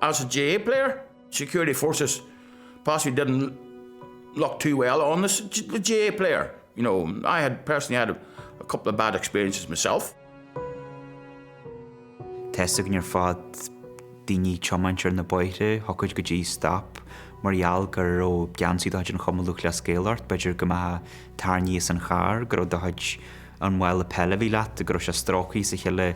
As a GA player, security forces possibly didn't look too well on this GA player, you know, I had personally had a couple of bad experiences myself. Theastaigh nuair a fuair daoine tiomáint ar na bóithre, thiocfadh go dtí stop mar gheall go raibh geansaí do chuid an Chumann Lúthchleas Gael ort, b'fhéidir go mbeadh tarraingthe as an charr, go raibh do chuid an mála peile a bhí leat, go raibh sé stróicthe as a chéile,